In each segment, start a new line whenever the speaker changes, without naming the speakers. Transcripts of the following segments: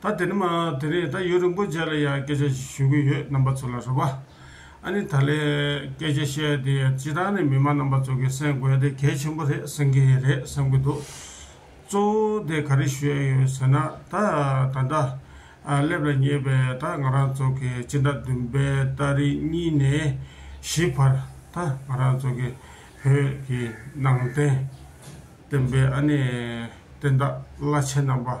ད་དེ་ནི་མ་དེ་རེད་ད་ཡུལ་རིན་པོ་ཆེ་ལ་ཡང་སྐད་ཆ་ཞིག་ཞུ་གི་ཡོད་རྣམ་པ་ཚོ་ལ་རེད་བ། ཨ་ནི་ད་ལས་སྐད་ཆ་བཤད་དེ་སྤྱི་དང་ནི་མི་མང་རྣམ་པ་ཚོ་གི་སེམས་དགོས་དེ་གལ་ཆེན་པོ་རེད་སེམས་གི་རེད་བསམ་གི་འདུག་གཙོ་བོ་དེ་ག་རེ་ཞུ་ཡ་ཡོད་ཟེར་ན་ད་ད་ལྟ་སླེབས་ལ་ཉེ་བའི་ད་ང་རང་ཚོ་གི་སྤྱི་ཟླ་བདུན་པའི་ཟླ་རེ་གཉིས་ནས་བཞི་བར་ད་ང་རང་ཚོ་གི་བོད་ཀྱི་ནང་བསྟན་བསྟན་པའི་ཨ་ནི་བསྟན་བདག་བླ་ཆེན་རྣམ་པ།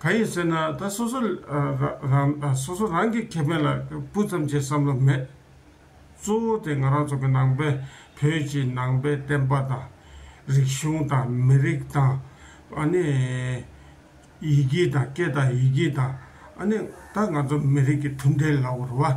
གང་ཡིན་ཟེར་ན་ད་སོ་སོ་རང་སོ་སོ་རང་གི་ཁེ་ཕན་ལ་སྤུ་ཙམ་བྱེད་བསམ་བློ་མེད། གཙོ་བོ་དེ་ང་རང་ཚོ་གི་ནང་པའི་བོད་ཀྱི་ནང་པའི་བསྟན་པ་དང། རིག་གཞུང་དང་མི་རིགས་དང། ཨ་ནི། ཡི་གེ་དང་སྐད་དང་ཡི་གེ་དང། ཨ་ནི་ད་ང་ཚོ་མི་རིགས་ཀྱི་མཐུན་འབྲེལ་ལ་བོར་བ།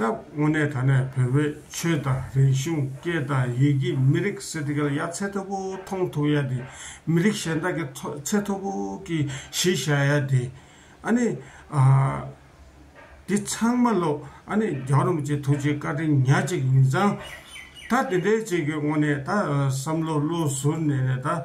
སྟབས་དངོས་གནས་ད་ནས་བོད་པའི་ཆོས་དང་རིག་གཞུང་སྐད་དང་ཡི་གེ་མི་རིགས་སེ་ཏི་ཀལ་ཡ་ཚད་མཐོ་པོ་མཐོང་ཐུབ་ཡ་དེ་མི་རིགས་གཞན་དག་གི་ཐོ་ཚད་མཐོ་པོ་གི་གཞི་བཞག་ཡ་དེ་ཨ་ནི་ཨ། དེ་ཚང་མ་ལོ་ཨ་ནི་རྒྱ་རོམ་གྱི་ཐུགས་རྗེ་བཀའ་དྲིན་ཉག་གཅིག་ཡིན་ཙང། ད་དེ་འདྲའི་བྱེད་དགོས་དངོས་གནས་ད་བསམ་བློ་བློ་ཟུར་ནས་ནས་ད།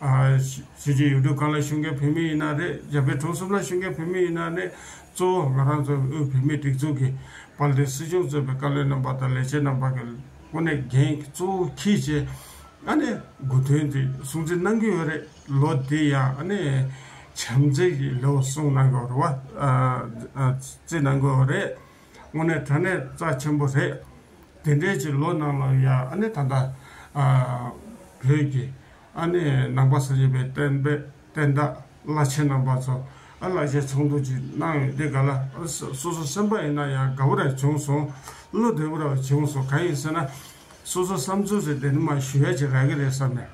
གཞིས་བྱེས་ཡུལ་གྲུ་གང་ལ་ཞུགས་མཁན་བོད་མི་ཡིན་ན་རེད་རྒྱ་བལ་གྲོང་གསུམ་ལ་ཞུགས་མཁན་བོད་མི་ཡིན་ན་རེད། གཙོ་བོ་ང་རང་ཚོ་དབུས་བོད་མིའི་སྒྲིག་འཛུགས་ཀྱི་དཔལ་ལྡན་སྲིད་གཞུང་གཙོས་པའི་བཀའ་བློན་རྣམ་པ་དང་ལས་བྱེད་རྣམ་པ་གི་དབུ་ནས་འགན་གཙོ་བོ་ཁྱེད་ཀྱིས་ཨ་ནི་དགོས་དོན་དེ་སྲུང་བརྩི་གནང་གི་ཡོད་རེད་ལོ་དེ་ཡང་ཨ་ནི་བྱམས་བརྩེ་ཡི་ལེའུ་གསུང་གནང་གི་ཡོད་རེད་བ་བརྩི་གནང་གི་ཡོད་རེད། དངོས་གནས་དོན་གནས་རྩ་ཆེན་པོ་རེད། དེ་འདྲའི་ཕྱིར་ལོ་ནང་ལ་ཡང་ཨ་ནེ་ད་ལྟ་བོད་ཀྱི་ཨ་ནེ་ནང་པ་ཟེར་གྱི་པའི་བསྟན་པའི་བསྟན་བདག་བླ་ཆེན་རྣམ་པ་ཚོ་ཨ་ལགས་ཞེས་ཚོགས་འདུ་ཅིག་གནང་ཡོད་འདི་ག་ལ་སོ་སོ་སེམས་པ་ཡིན་ན་ཡང་དགའ་བོ་ར་བྱུང་སོང་བློ་བདེ་བོ་ར་བྱུང་སོང་གང་ཡིན་ཟེར་ན་སོ་སོ་བསམ་ཚུལ་རེ་བདེན་མ་ཞུ་ཡ་ཅིག་རག་གི་རེད་བསམ་ནས།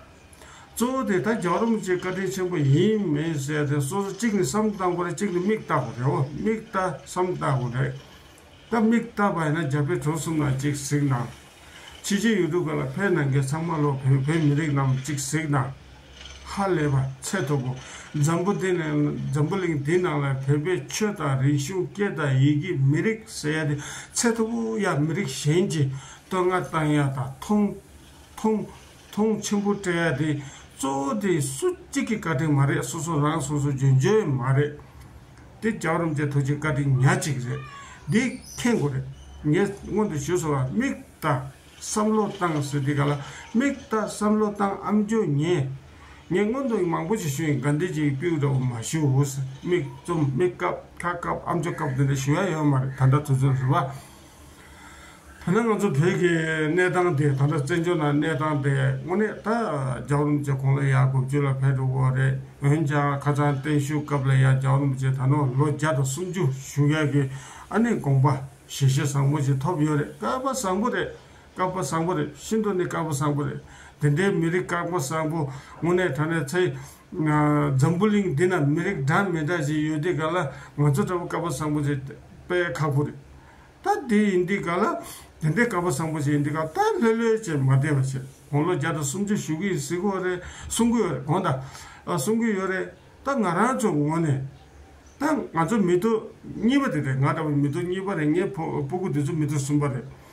གཙོ་བོ་དེ་ད་རྒྱག་རུམ་གཅིག་བཀའ་དྲིན་ཆེན་པོ་ཡིན་མིན་བཤད་དེ་སོ་སོ་གཅིག་ནི་བསམ་བཏང་པ་རེད་གཅིག་ནི་མིག་བཏགས་པ་རེད་འོ་མིག་བཏགས་བསམ་བཏགས་པ་རེད། ད་མིག་བཏགས་པ་ཡིན་ན་རྒྱ་བལ་གྲོ་གསུམ་ནང་གཅིག་གཟིགས་ན། ཕྱི་རྒྱལ་ཡུལ་གྲུ་ག་ལ་ཕེབས་ནང་གི་ཚང་མ་ལོག་བོད་བོད་མི་རིགས་རྣམས་གཅིག་གཟིགས་ན། ཧ་ལས་པ་ཚད་ཐོབ་བོ་འཛམ་བུ་འདི་ནས་འཛམ་བུ་གླིང་འདི་ནང་ལ་བོད་པའི་ཆོས་དང་རིག་གཞུང་སྐད་དང་ཡི་གེ་མི་རིགས་ཟེར་ཡ་དེ་ཚད་ཐོབ་བོ་ཡ་མི་རིགས་གཞན་གྱིས་བསྟོད་བསྔགས་བཏང་ཡ་དང་མཐོང་མཐོང་མཐོང་ཆེན་པོ་སྤྲད་ཡ་དེ་གཙོ་བོ་དེ་སུ་གཅིག་གི་བཀའ་དྲིན་མ་རེད་སོ་སོ་རང་སོ་སོ་འཇོན་འཇོན་མ་རེད་དེ་རྒྱ་རོམ་ཅན་ཐུགས་རྗེ་བཀའ་དྲིན་ཉག་གཅིག་རེད་འདི་མཁྱེན་དགོས་རེད་ངས་སྔོན་དུ་ཞུས་སོང་བ་མིག་ལྟ་བསམ་བློ་བཏང་ཟེར་དེ་ག་ལ་མིག་ལྟ་བསམ་བློ་བཏང་ཨམ་ཇོ་ཉེ་ངས་སྔོན་དུ་མང་པོ་ཞིག་ཞུས་ཡིན་དགའ་འདེད་ཅིག་དཔེའུ་འདྲ་བོ་མ་ཞུ་ཧུ་ས་མིག་བཙུམ་མིག་བཀབ་ཁ་བཀབ་ཨམ་ཇོ་བཀབ་དེ་འདྲ་ཞུ་ཡ་ཡོད་མ་རེད་ད་འདྲ་ཐུགས་བརྩོན་ཟེར་བ། ཐ་ན་ང་ཚོ་བོད་ཀྱི་གནས་སྟངས་དེ་ད་ལྟ་བཙན་བྱོལ་ནང་གནས་སྟངས་དེ་དངོས་གནས་ད་རྒྱ་རོམ་ཅེ་ཁོང་ལ་ཡར་དགུ་བཅུ་ལ་ཕེབས་འགྲོ་གི་རེད་འོན་ཀྱང་ཁ་ཚང་བརྟན་བཞུགས་སྐབས་ལ་ཡར་རྒྱ་རོམ་ཅེ་ད་ནོ་ལོ་བརྒྱ་དང་སུམ་ཅུ་བཞུགས་ཡག་གི་ཨ་ནི་དགོངས་པ་ཞེ་བཞི་བཟང་པོ་ཞིག་ཐོབ་ཡོད་རེད་བསྐལ་པ་བཟང་པོ་རེད་བསྐལ་པ་བཟང་པོ་རེད་ཤིན་ཏུ་ནི་བསྐལ་པ་བཟང་པོ་རེད་དེ་འདྲའི་མི་རིགས་བསྐལ་པ་བཟང་པོ་དངོས་གནས་ད་ནས་ཚེ་འཛམ་བུ་གླིང་འདི་ན་མི་རིགས་འདྲ་མི་འདྲ་ཞིག་ཡོད་དེ་ག་ལ་ང་ཚོ་འདྲ་བོ་དཀར་པོ་བཟང་པོ་ཞིག་དཔེ་ཁག་པོ་རེད། ད་དེ་ཡིན་དེ་ག་ལ་དེ་འདྲའི་དཀར་པོ་བཟང་པོ་ཞིག་ཡིན་དེ་ག་ད་ལྷོད་ལྷོད་ཅེས་མ་བསྡད་པ་ཞིག་དགོངས་ལོ་བརྒྱ་དང་སུམ་ཅུ་བཞུགས་ཀྱི་གཟིགས་གོ་རེད་གསུང་གི་ཡོད་རེད་དགོངས་དང། གསུང་གི་ཡོད་རེད་ད་ང་རང་ཚོ་ངོ་ནས་ད་ང་ཚོ་མི་ཐུག་གཉིས་པ་དེ་རེད་ང་འདྲ་བོ་མི་ཐུག་གཉིས་པ་རེད་ངའི་སྤུ་གུ་དེ་ཚོ་མི་ཐུག་གསུམ་པ་རེད།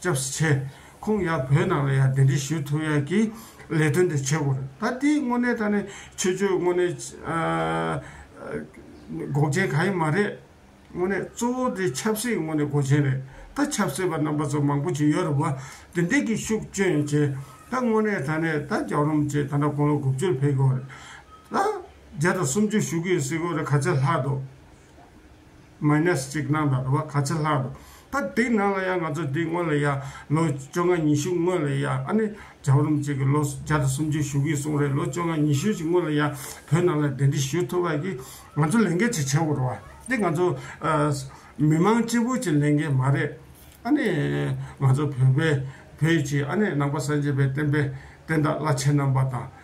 སྐྱབས་སུ་ཆེ། ཁོང་ཡང་བོད་ནང་ལ་ཡང་འདི་འདྲའི་ཞུ་ཐུབ་ཡག་གི་ལས་དོན་དེ་བྱེད་དགོས་རེད། ད་དེའི་དངོས་གནས་ད་ནི་ཆོས་ཆོས་དངོས་གནས་འགོག་རྐྱེན་གང་ཡང་མ་རེད། དངོས་གནས་གཙོ་བོ་དེ་ཆབ་སྲིད་དངོས་གནས་འགོག་རྐྱེན་རེད། ད་ཆབ་སྲིད་པ་རྣམ་པ་ཚོ་མང་པོ་ཅིག་ཡོད་རེད་བ། དེ་འདྲས་ཀྱི་ཤུགས་སྐྱོན་ཡང་བྱེད། ད་དངོས་གནས་ད་ནི་ད་རྒྱག་རོམ་བྱེད་ད་ནི་དགུང་ལོ་དགུ་བཅུར་ཕེབས་དགོས་རེད། ད་བརྒྱ་དང་སུམ་ཅུ་བཞུགས་གི་ཡོད་སྲིད་དགོས་རེད་ག་ཚད་ལྷག་འདུག། མཱི་ནས་གཅིག་ནང་དང་དུ་བ་ག་ཚད་ལྷག་འདུག་ད་དེའི་ནང་ལ་ཡང་ང་ཚོ་དེའི་སྔོན་ལ་ཡང་ལོ་བཅོ་ལྔ་ཉི་ཤུ་སྔོན་ལ་ཡང་ཨ་ནི་བྱམས་རུམ་གཅིག་གི་ལོ་བརྒྱ་དང་སུམ་ཅུ་བཞུགས་ཀྱི་སོང་རེད་ལོ་བཅོ་ལྔ་ཉི་ཤུ་ཅིག་སྔོན་ལ་ཡང་བོད་ནང་ལ་དེ་འདྲི་ཞུ་ཐུབ་པ་གིས་ང་ཚོ་ལས་འགན་ཆེ་ཆེ་བོར་བ་འདི་ང་ཚོ་མི་མང་སྤྱི་བོ་ཆེ་ལས་འགན་མ་རེད་ཨ་ནི་ང་ཚོ་བོད་པའི་བོད་ཀྱི་ཨ་ནི་ནང་པ་སངས་རྒྱས་པའི་བསྟན་པའི་བསྟན་བདག་བླ་ཆེན་རྣམ་པ་དང།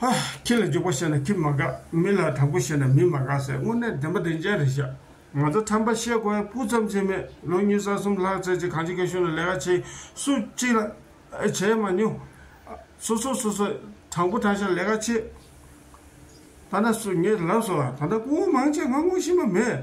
ཧ། ཁྱི་ལ་འཇུག་པ་བཤད་ན་ཁྱི་མ་དགའ། མི་ལ་དྲག་པོ་བཤད་ན་མི་མ་དགའ་ཟེར་དངོས་གནས་བདེན་པ་བདེན་ཅན་རེད་བཤད། ང་ཚོ་ཁྲམ་པ་བཤད་དགོས་ཡ་སྤུ་ཙམ་ཆེ་མེད་ལོ་གཉིས་ས་གསུམ་ལྷག་ཚེ་གཅིག་གང་ཅི་ག་ཤོད་ན་ལས་ཀ་བྱེད་སུ་གཅིག་ལ་བྱས་མ་མྱོང། སོ་སོ་སོ་སོ་དྲང་པོ་དྲང་ཤ་ལས་ཀ་བྱེད། ད་ན་སུ་ངས་ལབ་སོང་ད་ན་སྐུ་ངོ་མང་ཆེ་ང་ངོ་ཤི་མ་མེད།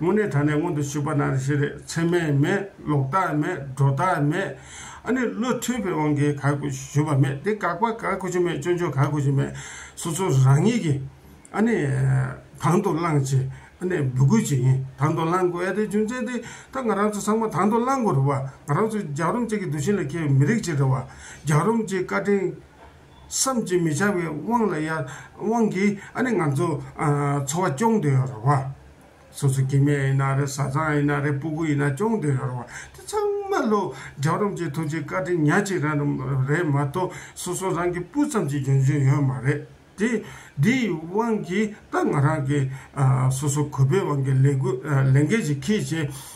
དངོས་གནས་ད་ནས་སྔོན་དུ་ཆུད་པ་ན་རེ་ཞིག་རེད་ཚད་མས་མེད་ལོག་ལྟ་མེད་སྒྲོ་ལྟ་མེད། ཨ་ནི་བློ་མཐུན་པའི་དབང་གིས་ག་གོ་ཞུས་པ་མེད་དེ་དགག་པ་ག་གོ་ཞུ་མེད་སྤྱོད་འཇུག་ག་གོ་ཞུ་མེད་སོ་སོ་རང་ཉིད་ཀྱིས་ཨ་ནི་དང་དུ་བླངས་ཆེད་ཨ་ནི་འབོད་སྐུལ་བྱེད་ཡིན་དང་དུ་བླངས་དགོས་ཨ་དེའི་རྒྱུ་མཚན་དེ་ད་ང་རང་ཚོ་ཚང་མ་དང་དུ་བླངས་དགོས་རེད་བ་ང་རང་ཚོ་རྒྱག་རོམ་ཅིག་གི་འདུ་ཤེས་ལ་ཁེལ་བའི་མི་རིགས་ཅིག་རེད་བ་རྒྱག་རོམ་ཅིག་བཀའ་དྲིན་བསམ་གྱིས་མི་ཁྱབ་པའི་དབང་ལ་ཡང་དབང་གིས་ཨ་ནི་ང་ཚོ་འཚོ་བ་སྐྱོང་འདོད་ཡོད་རེད་བ། སོ་སོ་གི་མེ་ཡིན་ན་རེད་བཟའ་ཚང་ཡིན་ན་རེད་སྤུ་གུ་ཡིན་ན་སྐྱོང་འདོད་ཡོད་རེད་བ། དེ་ཚང་མ་ལོ་རྒྱག་རོམ་གྱི་ཐུགས་ཀྱི་བཀའ་དྲིན་ཉག་གཅིག་རང་རེད་མ་གཏོགས་སོ་སོ་རང་གི་སྤུ་ཙམ་གྱི་འགྱོན་བྱུང་ཡོད་མ་རེད་དེ། དེ་ཡི་དབང་གིས་ད་ང་རང་གིས་སོ་སོ་གུས་པས་དབང་གི་ལས་འགུལ་ལས་འགན་ཞིག་ཁིས་བྱས།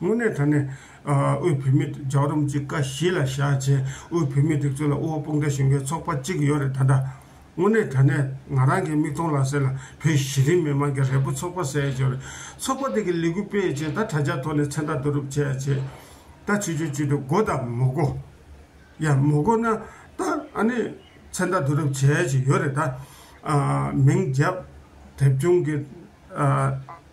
དངོས་གནས་ད་ནས་དབུས་བོད་མི་རྒྱག་རུམ་གཅིག་ཀ་བཞི་ལ་བཞག་རྗེས་དབུས་བོད་མི་སྒྲིག་འཛུགས་ལ་དབུ་བ་དཔུང་སྒྲ་གཞུང་གི་ཚོགས་པ་གཅིག་ཡོད་རེད་ད་འདྲ། དངོས་གནས་ད་ནས་ང་རང་གི་མིག་མཐོང་ལག་ཟིན་ལ་བོད་གཞི་རིམ་མི་མང་གི་རེ་བོ་ཚོགས་པ་བསལ་བྱས་རེད། ཚོགས་པ་དེ་གི་ལས་འགུལ་སྤེལ་རྗེས་ད་དྲ་ཇག་ཐོག་ནས་མཚན་རྟགས་བསྡུ་རུབ་བྱས་རྗེས། ད་ཆོས་ཆོས་ཅིག་ཏུ་མགོ་དང་མོ་མགོ། ཡང་མོ་མགོ་ན་ད་ཨ་ནི་མཚན་རྟགས་བསྡུ་རུབ་བྱས་བྱས་ཡོད་རེད་ད། མིང་རྒྱབ། དེབ་ཆུང་གི།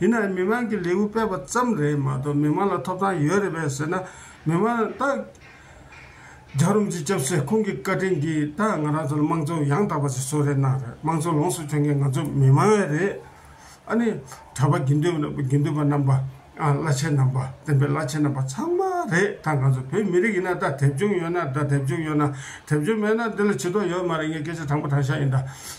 ཡིན་ནའང་མི་མང་གི་ལེའུ་སྤེལ་བ་ཙམ་རེད་མ་གཏོགས་མི་མང་ལ་ཐོབ་ཐང་ཡོད་རེད་པས་ཟེར་ན་མི་མང་རྟགས། རྒྱ་རོམ་གྱི་སྐྱབས་སེ་ཁོང་གི་བཀའ་དྲིན་གྱིས་རྟགས་ང་རང་ཚོ་ལ་དམངས་གཙོ་ཡང་དག་པ་ཞིག་བཟོ་རེ་གནང་རེད་དམངས་གཙོ་ལོངས་སུ་སྤྱོད་མཁན་ང་ཚོ་མི་མང་བས་རེད། ཨ་ནི། གྲྭ་པ་དགེ་འདུན་དགེ་འདུན་པ་རྣམ་པ། བླ་ཆེན་རྣམ་པ་བསྟན་པའི་བླ་ཆེན་རྣམ་པ་ཚང་མ་རེད་ད་ང་ཚོ་བོད་མི་རིགས་ཡིན་ན་ད་དེབ་ཆུང་ཡོད་ན་ད་དེབ་ཆུང་ཡོད་ན་དེབ་ཆུང་མེད་ན་འདི་ལ་བྱེད་དོགས་ཡོད་མ་རེད་ངས་སྐད་ཆ་དྲང་པོ་དྲང་ཤ་ཡིན་ད།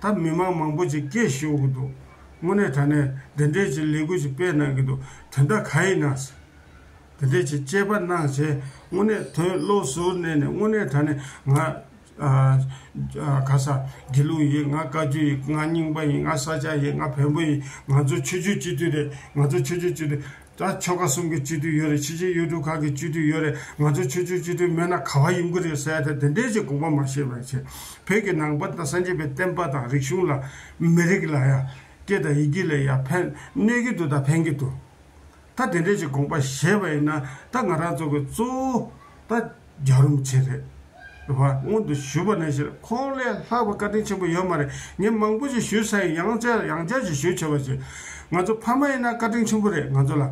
ད་མི་མང་མང་པོ་ཅིག་སྐད་ཤོད་གི་འདུག་དངོས་གནས་ད་ནས་འདི་འདྲའི་ཅིག་ལས་འགུལ་ཅིག་སྤེལ་གནང་གི་འདུག་དེ་འདྲ་ག་ཡིས་གནང་སྲིད། དེ་འདྲའི་ཅིག་དཔྱད་པ་གནང་བྱས་དངོས་གནས་དོན་བློ་གཟུར་གནས་ནས་དངོས་གནས་ད་ནས་ང། ག་ས། དགེ་ལུགས་ཡིན་ང་བཀའ་བརྒྱུད་ཡིན་ང་རྙིང་པ་ཡིན་ང་ས་སྐྱ་ཡིན་ང་བོན་པོ་ཡིན་ང་ཚོ་ཆོས་བརྒྱུད་སྤྱི་འཐུས་རེད་ང་ཚོ་ཆོས་བརྒྱུད་སྤྱི་འཐུས་ད་ཆོལ་ཁ་གསུམ་གྱི་སྤྱི་འཐུས་ཡོད་རེད་ཕྱི་ཕྱིར་ཡུལ་གྲུ་ཁག་གི་སྤྱི་འཐུས་ཡོད་རེད་ང་ཚོ་ཆོལ་ཆོལ་སྤྱི་འཐུས་མེད་ན་ག་བ་ཡོང་གི་རེད་ཟེར་ཡ་ད་དེ་འདྲའི་ཆེ་དགོངས་པ་མ་བཞེས་པར་བྱས་བོད་ཀྱི་ནང་པ་དང་སངས་རྒྱས་པའི་བསྟན་པ་དང་རིག་གཞུང་ལ་མི་རིགས་ལ་ཡ་སྐད་དང་ཡི་གེ་ལ་ཡ་ཕན་གནོད་ཀྱི་འདུག་ད་ཕན་གྱི་འདུག་ད་དེ་འདྲའི་ཆེ་དགོངས་པ་བཞེས་པ་ཡིན་ན་ད་ང་རང་ཚོ་གི་གཙོ་བོ་ད། རྒྱག་རུང་ཆེ་རེད་བ། སྔོན་དུ་ཞུས་པ་ནས་བཞིན་ཁོང་ལས་ལྷག་པའི་བཀའ་དྲིན་ཆེན་པོ་ཡོད་མ་རེད། ངས་མང་པོ་ཞིག་ཞུས་ས་ཡིན་ཡང་བསྐྱར་ཡང་བསྐྱར་ཞིག་ཞུས་ཆེ་བ་བྱས། ང་ཚོ་ཕ་མ་ཡིན་ན་བཀའ་དྲིན་ཆེན་པོ་རེད་ང་ཚོ་ལ།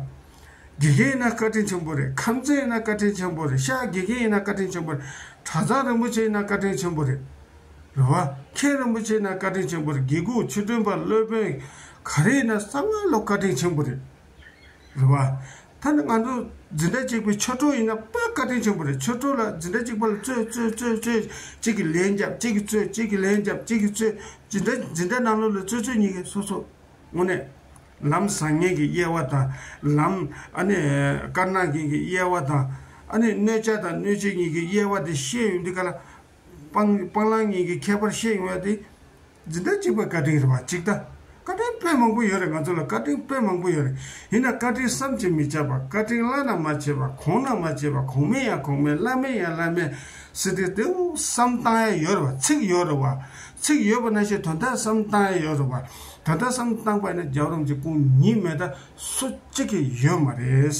དགེ་རྒན་ཡིན་ན་བཀའ་དྲིན་ཆེན་པོ་རེད་ཁམས་ཚན་ཡིན་ན་བཀའ་དྲིན་ཆེན་པོ་རེད་ཤག་དགེ་རྒན་ཡིན་ན་བཀའ་དྲིན་ཆེན་པོ་རེད་གྲྭ་ཚང་རིན་པོ་ཆེ་ཡིན་ན་བཀའ་དྲིན་ཆེན་པོ་རེད་བ། མཁན་རིན་པོ་ཆེ་ཡིན་ན་བཀའ་དྲིན་ཆེན་པོ་རེད་དགེ་སྐོས་ཆོས་སྒྲོན་པ་བློས་དཔོན་ག་རེ་ཡིན་ན་གསང་བ་ལོ་བཀའ་དྲིན་ཆེན་པོ་རེད། རེད། བ་ད་ནི་ང་ཚོ་འཛིན་གྲྭ་གཅིག་པའི་ཆོ་འཕྲུལ་ཡིན་ན་དཔའ་བཀའ་དྲིན་ཆེན་པོ་རེད་ཆོ་འཕྲུལ་ལགས་འཛིན་གྲྭ་གཅིག་པ་ལ་རྩོད་རྩོད་རྩོད་རྩོད་གཅིག་གིས་ལན་རྒྱབ་གཅིག་གིས་རྩོད་གཅིག་གིས་ལན་རྒྱབ་གཅིག་གིས་རྩོད་འཛིན་གྲྭ་འཛིན་གྲྭ་ནང་ལོགས་ལ་རྩོད་རྩོད་གཉིས་ཀས་སོ་སོ་དངོས་གནས། ལམ་བཟང་མཁན་གྱི་དབྱེ་བ་དང་ལམ་ཨ་ནི་དཀར་ནག་མཁན་གྱི་དབྱེ་བ་དང་ཨ་ནི་གནོད་བྱ་དང་གནོད་བྱེད་གཉིས་ཀའི་དབྱེ་བ་དེ་ཤེས་ཡོང་དུས་ག་ལ་སྤང། སྤང་བླང་གཉིས་ཀྱི་ཁྱད་པར་ཤེས་ཡོང་བ་དེ། འཛིན་གྲྭ་གཅིག་པའི་བཀའ་དྲིན་རེད་བ་ཅིག་ལྟ། བཀའ་དྲིན་དཔེ་མང་པོ་ཡོད་རེད་ང་ཚོ་ལ་བཀའ་དྲིན་དཔེ་མང་པོ་ཡོད་རེད། ཡིན་ན་བཀའ་དྲིན་བསམ་གྱིས་མི་ཁྱབ་པ་བཀའ་དྲིན་བླ་ན་མ་མཆིས་པ་གོང་ན་མ་མཆིས་པ་གོང་མིན་ཡང་གོང་མིན་བླ་མིན་ཡང་བླ་མིན། སྲིད་སྟེགས་དེ་བསམ་བཏང་ཡ་ཡོད་རེད་བ་ཚིག་ཡོད་རེད་བ། ཚིག་ཡོད་པ་ན་ཞེ་དོན་དག་བསམ་བཏང་ཡ་ཡོད་རེད་བ། དོན་དག་བསམ་བཏང་པ་ན་རྒྱབ་རོམ་གྱི་སྐུ་ཉིད་མེད་ད་སུ་གཅིག་གིས་ཡོད་མ་རེད།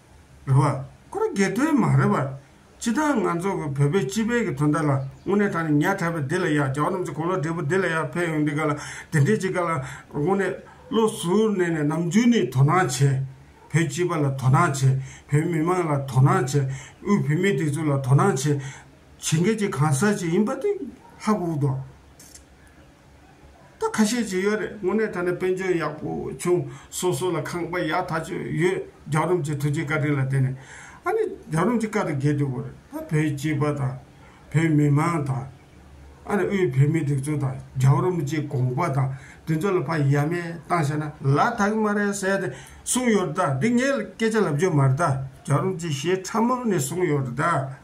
རེད་བ། ཁོ་རང་སྒེར་དོན་མ་རེད་བ། སྤྱི་བཏང་ང་ཚོ་གི་བོད་པའི་སྤྱི་དཔལ་གི་དོན་དག་ལ་དངོས་གནས་ད་ནི་ཉག་ཕྲ་བའི་སྡེ་ལ་ཡག་རྒྱ་བ་རྣམས་ཚོ་གོང་ལོག་འབྲས་བུ་སྡེ་ལ་ཡག་ཕེབས་ཡོང་འདི་ག་ལ་དེ་འདྲས་ཅིག་ག་ལ་དངོས་གནས་བློ་ཟུར་གནས་ནས་ནམ་རྒྱུན་ནས་དོ་སྣང་བྱས། བོད་སྤྱི་པ་ལ་དོ་སྣང་བྱས། བོད་མི་མང་ལ་དོ་སྣང་བྱས། དབུས་བོད་མི་དེ་ཚོ་ལ་དོ་སྣང་བྱས། བྱེད་མཁན་གྱི་གང་ཟག་ཅིག་ཡིན་པ་དེ་ལྷག་དབུགས་དང། ད་ཁ་ཤས་ཀྱི་ཡོད་རེད་དངོས་གནས་ད་ནི་དཔལ་འབྱོར་ཡག་པོ་བྱུང་སོ་སོ་ལ་ཁང་པ་ཡག་ཐག་ཆོད་ཡོད་རྒྱ་རོམ་གྱི་དུས་ཀྱི་བཀའ་དྲིན་ལ་བརྟེན་ནས་ཨ་ནི་རྒྱ་རོམ་གྱི་བཀའ་དང་འགལ་དུས་འོ་རེད་ད་བོད་སྤྱི་པ་དང་བོད་མི་མང་དང་ཨ་ནི་དབུས་བོད་མི་སྒྲིག་འཛུགས་དང་རྒྱ་རོམ་གྱི་དགོངས་པ་དང་དེ་ཚོ་ལ་ཕ་ཡ་མེད་བཏང་བྱས་ན་ལ་དྭགས་ཀྱི་མ་རེད་བསད་དེ་གསུངས་ཡོད་རེད་ད་འདི་ངས་སྐད་ཆ་ལབ་རྒྱུ་མ་རེད་ད་རྒྱ་རོམ་གྱི་ཞེས་ཕྲ་མོ་ནས་གསུངས་ཡོད་རེད་ད།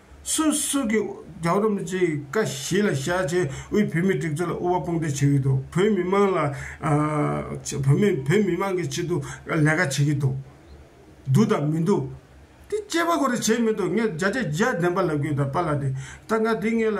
སོ་སོ་གི་རྒྱ་རོ་མི་ཚེའི་བཀའ་བཞི་ལ་ཤ་ཆེ་དབུས་བོད་མི་སྒྲིག་འཛུགས་ལ་དབུ་བ་དཔུང་འདེགས་བྱེད་ཀྱི་འདུག་བོད་མི་མང་ལ་བོད་མི་བོད་མི་མང་གི་ཆེད་དུ་ལས་ཀ་བྱེད་ཀྱི་འདུག་འདུག་དང་མི་འདུག་དེ་དཔྱད་པ་གོ་རེ་བྱས་མི་འདུག་ངས་བརྒྱ་ཆ་བརྒྱ་བདེན་པ་ལབ་ཀྱི་ཡོད་ད་པ་ལ་དེ་ད་ང་དེ་ངས་ལ་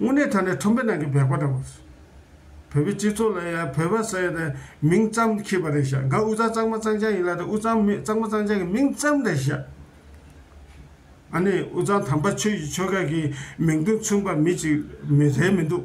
དངོས་གནས་ད་ནི་ཁྲོམ་པའི་ནང་གི་བེག་པ་འདྲ་བོ་རེད། བོད་པའི་སྤྱི་ཚོགས་ལ་ཡང་བོད་པ་ཟེར་ཡས་དེ་མིང་ཙམ་ཁེས་པ་རེད་ཤག་འགའ་དབུས་གཙང་གཙང་མ་གཙང་ཆང་ཡིན་ལ་དེ་དབུས་གཙང་མི་གཙང་མ་གཙང་ཆང་གི་མིང་ཙམ་རེད་ཤག། ཨ་ནི་དབུས་གཙང་དམ་པ་ཆོས་ཀྱི་ཆོལ་ཁ་གི་མིང་དོན་མཚུངས་པ་མི་གཅིག་མི་རེ་མི་འདུག།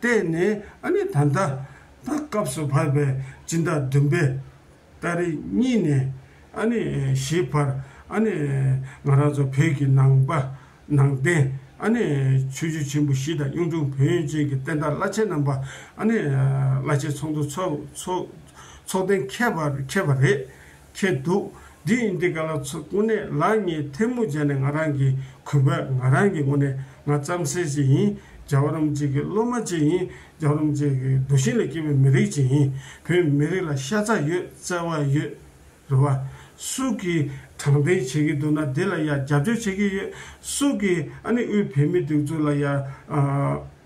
བལྟས་ནས་ཨ་ནི་ད་ལྟ་ད་སྐབས་སུ་བབས་པའི་སྤྱིན་བདག་བདུན་པས་ཏཱ་རེ་གཉིས་ནས་ཨ་ནི་ཞེས་བར་ཨ་ནི་ང་རང་ཚོ་བོད་ཀྱི་ནང་པ་ནང་བསྟན་ཨ་ནི་ཆོས་རྒྱུད་ཆེན་པོ་བཞི་དང་གཡུང་དྲུང་བོན་ཡོན་ཅན་གྱི་བསྟན་བདག་བླ་ཆེན་རྣམ་པ་ཨ་ནི་བླ་ཆེན་ཚོགས་འདུ་ཚོགས་ཚོགས་ཚོགས་གཏན་ཁེལ་བ་ཁེལ་བ་རེད། ཁྱེད་འདུག་འདི་ཡིན་འདི་ག་ལ་ཚོད་དངོས་གནས་ལགས་ངས་ཐལ་མོ་སྦྱར་ནས་ང་རང་གི་གུས་པས་ང་རང་གི་ངོ་ནས་ང་རྩམ་ཟེར་ཅིག་ཡིན་རྒྱ་བ་རོམ་ཅིག་གི་སློབ་མ་ཅིག་ཡིན་རྒྱ་བ་རོམ་ཅིག་གི་རྡོ་ཤིང་ལ་སྐྱེས་པའི་མི་རིགས་ཅིག་ཡིན་བོད་མི་རིགས་ལ་ཤ་ཚ་ཡོད་བརྩེ་བ་ཡོད་རེད་བ། སུ་གིས་དྲང་བདེན་བྱེད་ཀྱི་འདུག་ན་དེ་ལ་ཡང་རྒྱབ་སྐྱོར་བྱེད་ཀྱི་ཡོད་སུ་གིས་ཨ་ནི་དབུས་བོད་མི་སྡིགས་འཛུགས་ལ་ཡང།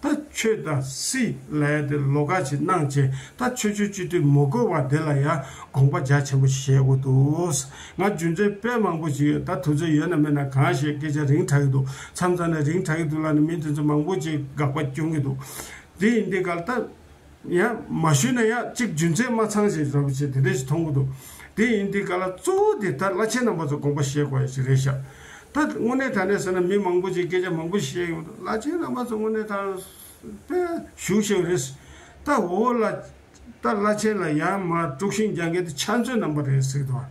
ད་ཁྱོད་ད་སི་ལའི་དེ་ལོ་ཀ་ཅིག་གནང་བྱས་ད་ཁྱོད་ཆོས་སྤྱི་འཐུས་མོ་དགོས་བ་དེ་ལ་ཡ་དགོངས་པ་རྒྱ་ཆེན་པོ་བཞེས་དགོས་འདུག་ང་རྒྱུ་མཚན་དཔེ་མང་པོ་ཞིག་ཡོད་ད་དུས་ཚོད་ཡོད་ན་མེད་ན་གང་བཤད་སྐད་ཆ་རིང་དྲག་གི་འདུག་མཚམས་མཚམས་ནས་རིང་དྲག་གི་འདུག་ལར་ནས་མི་དེ་ཚོ་མང་པོ་ཅིག་དགག་པ་སྐྱོན་གི་འདུག་འདི་ཡིན་འདི་འགལ་ད། ཡང་མ་ཞུས་ན་ཡང་གཅིག་རྒྱུ་མཚན་མ་ཚང་ཞེས་བྱ་བ་ཆེ་དེ་འདྲ་ཞིག་མཐོང་གི་འདུག་དེ་ཡིན་དུས་ག་ལ་གཙོ་བོ་དེ་ད་བླ་ཆེན་རྣམ་པ་ཚོ་དགོངས་པ་བཞེས་དགོས་ཡ་ཞིག་རེད་ཤག་ད་དངོས་གནས་ད་ནས་བཟོས་ན་མི་མང་པོ་ཅིག་སྐད་ཆ་མང་པོ་བཤད་ཡོང་འདུག་བླ་ཆེན་རྣམ་པ་ཚོ་དངོས་གནས་ད་དཔེ་ཞུ་བཞེས་པ་རེད། ད་འོ་ལ། ད་བླ་ཆེན་ལ་ཡང་མ་དཀྲུགས་ཤིང་རྒྱ་འགལ་དེ་ཆ་མཚོན་རྣམ་པ་རེད་ཟེར་གི་འདུག་བ།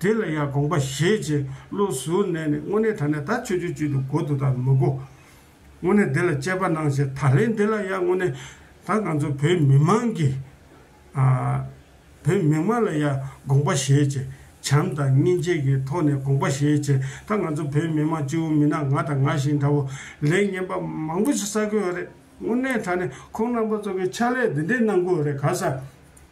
དེ་ལ་ཡང་དགོངས་པ་བཞེས་རྗེས་བློ་གཟུར་གནས་ནས་དངོས་གནས་ད་ནས་ད་ཆོས་ཆོས་བཅུད་དུ་གོ་དུ་དང་མི་གོ། དངོས་གནས་འདི་ལ་དཔྱད་པ་གནང་བྱས་ད་རེས་འདི་ལ་ཡང་དངོས་གནས་ད་ང་ཚོ་བོད་མི་མང་གིས། བོད་མི་མང་ལ་ཡང་དགོངས་པ་བཞེས་རྗེས་བྱམས་དང་སྙིང་རྗེ་གི་ཐོག་ནས་དགོངས་པ་བཞེས་རྗེས་ད་ང་ཚོ་བོད་མི་མང་སྤྱི་བོ་མི་ནག་ང་དང་ང་བཞིན་འདྲ་བོ་ལས་ངན་པ་མང་པོ་ཞིག་བསགས་དགོས་ཡོད་རེད་དངོས་གནས་ད་ནས་ཁོང་རྣམ་པ་ཚོ་གི་ཕྱག་ལས་འདི་འདྲས་གནང་དགོས་ཡོད་རེད་ག་ས་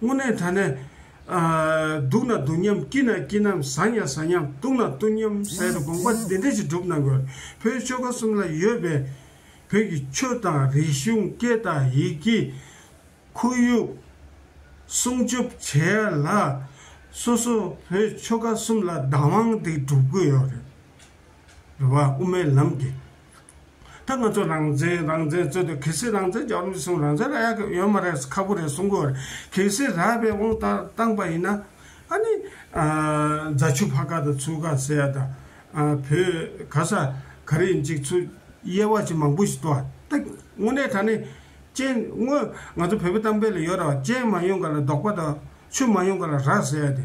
སྔུན་ནས་ད་ནས། སྡུག་ན་སྡུག་སྙམ་སྐྱིད་ན་སྐྱིད་སྙམ་བཟའ་ཉ་བཟའ་སྙམ་བཏུང་ན་བཏུང་སྙམ་ཟེར་དགོངས་པ་འདི་འདྲས་ཀྱིས་སྒྲུབ་གནང་དགོས་བོད་ཆོལ་ཁ་གསུམ་ལ་ཡོད་པའི་བོད་ཀྱི་ཆོས་དང་རིག་གཞུང་སྐད་དང་ཡིག་གི། ཁོར་ཡུག། སྲུང་སྐྱོབ་བྱེད་ཡ་ལ། སོ་སོ་བོད་ཆོལ་ཁ་གསུམ་ལ་བདག་དབང་འདི་སྒྲུབ་དགོས་ཡོད་རེད། རེ་བ་དབུ་མའི་ལམ་གྱི། ད་ང་ཚོ་རང་བཙན་རང་བཙན་རྩོད་དུས་གལ་སྲིད་རང་བཙན་རྒྱག་རུང་ཆི་སྲུང་རང་བཙན་ར་ཡག་ཡོད་མ་རེད་ཁ་པོ་རེད་གསུང་གི་རེད་གལ་སྲིད་ར་བས་དབང་ལྟར་བཏང་པ་ཡིན་ན་ཨ་ནི་རྫ་ཆུ་ཕ་ཁ་དང་ཚུར་ཁ་ཟེར་ཡ་དང་བོད་ག་ས་ག་རེ་ཡིན་གཅིག་ཚུར་དབྱེ་བ་ཆི་མང་པོ་ཞིག་འདུག་ད་དངོས་གནས་ད་ནི་སྤྱན་དངོས་ང་ཚོ་བོད་པའི་གཏམ་དཔེ་ལ་ཡོད་ར་བ་སྤྱན་མ་ཡོང་ག་ལ་རྡོག་པ་དང་ཆུ་མ་ཡོང་ག་ལ་ར་ཟེར་ཡ་དེ་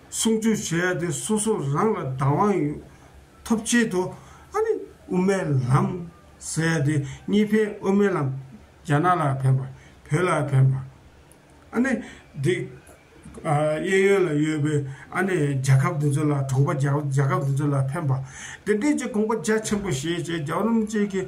སྲུང་སྐྱོབ་བྱེད་ཡ་དེ་སོ་སོ་རང་ལ་བདག་དབང་ཡོད་ཐོབ་ཆེད་དུ་ཨ་ནི་དབུ་མའི་ལམ་ཟེར་ཡ་དེ་གཉིས་ཕན་དབུ་མའི་ལམ་རྒྱ་ནག་ལ་ཕན་པ་བོད་ལ་ཕན་པ་ཨ་ནི་འདི་གཡས་གཡོན་ལ་ཡོད་པའི་ཨ་ནི་རྒྱལ་ཁབ་འདི་ཚོ་ལ་གྲོང་པ་རྒྱལ་ཁབ་འདི་ཚོ་ལ་ཕན་པ་དེ་འདྲས་ཀྱི་དགོངས་པ་རྒྱ་ཆེན་པོ་བཞེས་བྱས་རྒྱ་རོམ་བཅས་ཀྱི་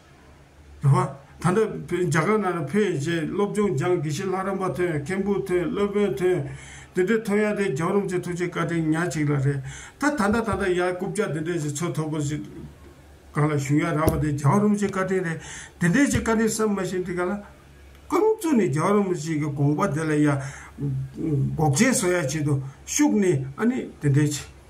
བ། ད་ལྟ་རྒྱ་གར་ནང་ལ་ཕེབས་ཡོད་རྗེས་སློབ་ཆུང་སྦྱངས་དགེ་བཤེས་ལྷ་རམས་པ་ཐོན་མཁན་བུ་ཐོན་སློབ་དཔོན་ཐོན། འདི་འདྲའི་ཐོན་ཡག་དེ་རྒྱང་རུམ་གྱི་ཐུགས་རྗེ་བཀའ་དྲིན་ཉག་གཅིག་ལ་རེད་ད། ད་ལྟ་ད་ལྟ་ཡ་རྐུབ་ཀྱག་འདི་འདྲས་ཀྱི་ཚོད་མཐོ་པོ་ཞིག་གང་ལ་བཞུགས་ཡ་རག་པ་དེ་རྒྱང་རུམ་གྱི་བཀའ་དྲིན་རེད། འདི་འདྲས་ཀྱི་བཀའ་དྲིན་བསམ་མ་ཤེས་འདི་ག་ལ། ཀུན་རྫོ་ནི་རྒྱང་རུམ་ཞིག་གི་དགོངས་པ་དེ་ལ་ཡ། འགོག་རྐྱེན་བཟོ་ཡ་བྱེད་དུ་ཤུགས་ནི་ཨ་ནི་འདི་འདྲས་ཀྱི།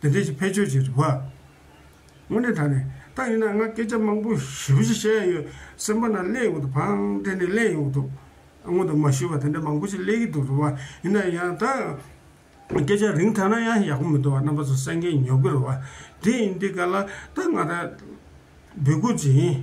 བདེ་སྡོད་ཀྱི་བེད་སྤྱོད་ཀྱི་རིགས་པ། དངོས་གནས་དྲ་ནས་ལྟ་ཡིན་ན་ང་སྐད་ཆ་མང་པོ་ཞིབ་ཕྱི་བཤད་ཡ་ཡོད་སེམས་པ་ན་གླན་ཡོང་དུ་བང་དེ་ནས་གླན་ཡོང་དུ་སྔོན་དུ་མ་ཞུས་པ་དེ་འདྲ་མང་པོ་ཞིག་གླན་གྱི་འདུག་རུ་བ་ཡིན་ན་ཡང་ད་སྐད་ཆ་རིང་ཐ་ན་ཡང་ཡག་པོ་མི་འདུག་བ་རྣམ་པ་ཚོ་སེང་གེ་ཉོབ་གི་རུ་བ་དེ་ཡིན་དེ་ག་ལ་ད་ང་ད་འབོད་སྐུལ་བྱེད་ཡིན།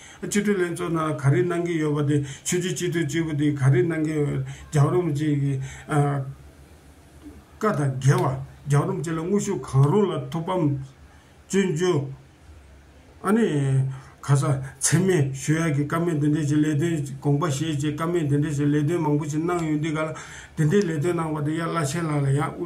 སྤྱི་འཐུས་ལྷན་ཚོགས་ནང་ག་རེ་གནང་གི་ཡོད་པ་དེ་ཆོས་རྒྱུད་སྤྱི་འཐུས་གཅིག་པུ་དེ་ག་རེ་གནང་གི་ཡོད་རྒྱག་རོམ་གཅིག་གི། བཀའ་དང་འགལ་བ་རྒྱག་རོམ་གཅིག་ལ་དངོས་ཤུགས་གང་རུང་ལ་ཐུགས་ཕམ། བཙོན་འཇུག། ཨ་ནི། ག་ས་འཚེ་མེད་ཞུ་ཡག་གི་ཀ་མེད་དེ་འདྲས་ཀྱི་ལས་དོན་དགོངས་པ་བཞེས་བཅས་ཀ་མེད་དེ་འདྲས་ཀྱི་ལས་དོན་མང་པོ་ཞིག་གནང་ཡོད་འདུག་ག་ལ་དེ་འདྲའི་ལས་དོན་གནང་བ་དེ་ཡ་བླ་ཆེན་ལགས་ལ་ཡང་དབུ་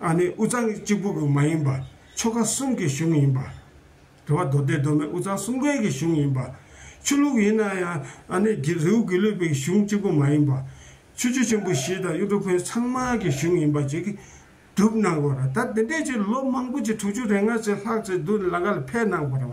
ཨ་ནི་དབུས་གཙང་གི་གཅིག་པུ་དགོན་མ་ཡིན་པ་ཆོ་ག་གསུམ་གྱི་གཞུང་ཡིན་པ། དེ་བ་མདོ་སྡེ་མདོ་སྨད་དབུས་གཙང་གསུམ་དགོན་གྱི་གཞུང་ཡིན་པ། ཆུ་ལུགས་ཡིན་ན་ཡང་ཨ་ནི་རྗེ་རིའུ་དགེ་ལུས་པའི་གཞུང་གཅིག་པུ་མ་ཡིན་པ། ཆུ་བཅུ་ཆེན་པོ་བཞི་དང་གཡུ་འབྲུག་བོན་ཚང་མ་གི་གཞུང་ཡིན་པ་ཅིག་གྲུབ་གནང་དགོས་ར་ད་དེ་འདྲའི་ཆུ་ལོ་མང་པོ་ཅིག་དྲུག་ཅུ་རེ་ལྔ་ཅིག་ལྷག་ཅིག་བདུད་ལ་ག་ལ་ཕེབས་གནང་བར་བ།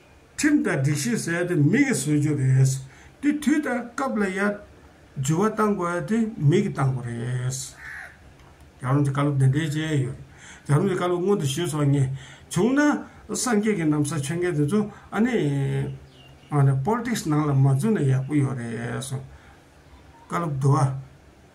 ཁྲིམས་དང་སྒྲིག་གཞི་ཟེར་དེ་མི་གིས་བཟོས་རྒྱུ་རེད། དེ་དུས་དང་སྐབས་ལ་ཡ། འཇུ་བ་བཏང་དགོས་དེ་མི་གིས་བཏང་དགོས་རེད། རྒྱ་རོམ་གྱི་བཀའ་སློབ་འདི་འདྲའི་ཅན་ཡོད་རེད། རྒྱ་རོམ་གྱི་བཀའ་སློབ་སྔོན་དུ་ཞུས་སོང་ངས། བྱུང་ན། སངས་རྒྱས་ཀྱི་གནམ་ས་ཆོས་མཁན་དེ་ཚོ་ཨ་ནི། ཨ་ནི། Politics ནང་ལ་མ་འཛུལ་ན་ཡག་པོ་ཡོད་རེད་གསུངས། བཀའ་སློབ་བསྡུ་བ།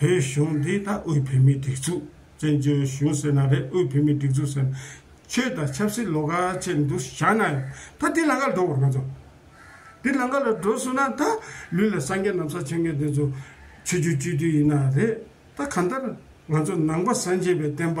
བོད་གཞུང་འདི་ད་དབུས་བོད་མིའི་སྒྲིག་འཛུགས་བཙན་བྱོལ་གཞུང་ཟེར་ན་རེད་དབུས་བོད་མིའི་སྒྲིག་འཛུགས་ཟེར་ན་ཆོས་དང་ཆབ་སྲིད་ལོ་ག་ཆེད་འདུ་བྱ་ན་ཡང་ད་དེ་ལང་ཀར་འགྲོ་དགོས་ང་ཚོ་དེ་ལང་ཀ་ལ་འགྲོ་སོང་ན་ད་ལུས་ལ་སངས་རྒྱས་ནམ་ས་ཆེན་མོ་དེ་ཚོ་ཆོས་རྒྱུད་སྤྱོད་དུས་ཡིན་ན་རེད་ད་གང་ལྟར་ང་ཚོ་ནང་པ་སངས་རྒྱས་པའི་བསྟན་པ་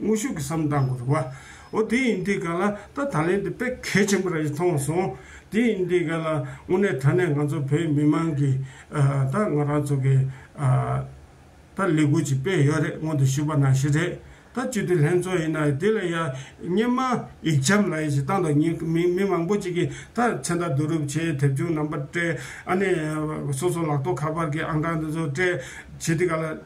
དངོས་ཤུགས་ཀྱིས་བསམ་གཏང་དགོས་རུང་བ། འོ་དེ་ཡིན་དེ་ག་ལ་ད་ད་ལན་དེ་དཔེ་གལ་ཆེན་པོ་ར་ཞིག་མཐོང་སོང། དེ་ཡིན་དེ་ག་ལ་དངོས་གནས་ད་ནས་ང་ཚོ་བོད་མི་མང་གི་ད་ང་རང་ཚོ་གི་ད་ལས་འགུལ་ཅིག་སྤེལ་ཡོད་རེད་སྔོན་དུ་ཞུས་པ་ན་ཞིག་རེད་ད་སྤྱི་འཐུས་ལྷན་ཚོགས་ཡིན་ན་དེ་ལ་ཡ་སྙན་མ་ཡིག་འཆམ་ལ་ཡ་ཞིག་བཏང་དང་ཉིན་མི་མི་མང་པོ་ཅིག་གི་ད་མཚན་རྟགས་བསྡུ་རུབ་བྱས་དེབ་ཆུང་རྣམ་པ་སྤྲད་ཨ་ནས་སོ་སོ་ལག་ཐོག་ཁ་པར་གྱི་ཨང་གྲངས་དེ་ཚོ་སྤྲད་བྱས་དེ་ག་ལ།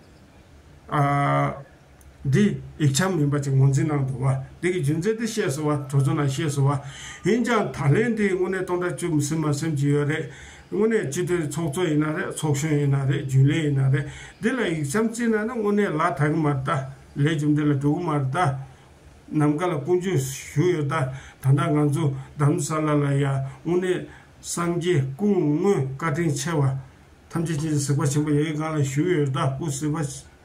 འདི་ཡིག་ཆ་མིན་པ་ཅིག་ངོས་འཛིན་གནང་འདུག་བ་འདི་གི་རྒྱུ་མཚན་དེ་ཤེས་སོང་བ་གྲོགས་ཚོ་ནང་ཤེས་སོང་བ་ཡིན་ཀྱང་ད་ལན་དེ་དངོས་གནས་སྟོང་ཕྲག་བཅུ་མི་སྲིད་མ་སེམས་ཀྱི་ཡོད་རེད་དངོས་གནས་སྤྱི་མཐུན་ཚོགས་གཙོ་ཡིན་ན་རེད་ཚོགས་གཞོན་ཡིན་ན་རེད་རྒྱུན་ལས་ཡིན་ན་རེད་འདི་ལ་ཡིག་ཆའམ་རྩིས་གནང་ན་དངོས་གནས་ལ་དྭགས་གི་མར་དྭགས་ལས་རྒྱུ་འདི་ལ་འགྲོ་གི་མར་དྭགས་ནམ་མཁའ་ལ་ཀུན་སྤྱོད་ཞུ་ཡོད་ད་ད་ལྟ་ང་ཚོ་འདམ་ས་ལ་ལ་ཡ་དངོས་གནས་སངས་རྒྱས་སྐུ་དངོས་བཀའ་དྲིན་ཆེ་བ་ཐམས་ཅད་ཅི་ཟིག་པ་ཆེན་པོ་ཡ་ཡི་སྒང་ལ་ཞུ་ཡོད་ད་སྐུ་ཟིག་པ།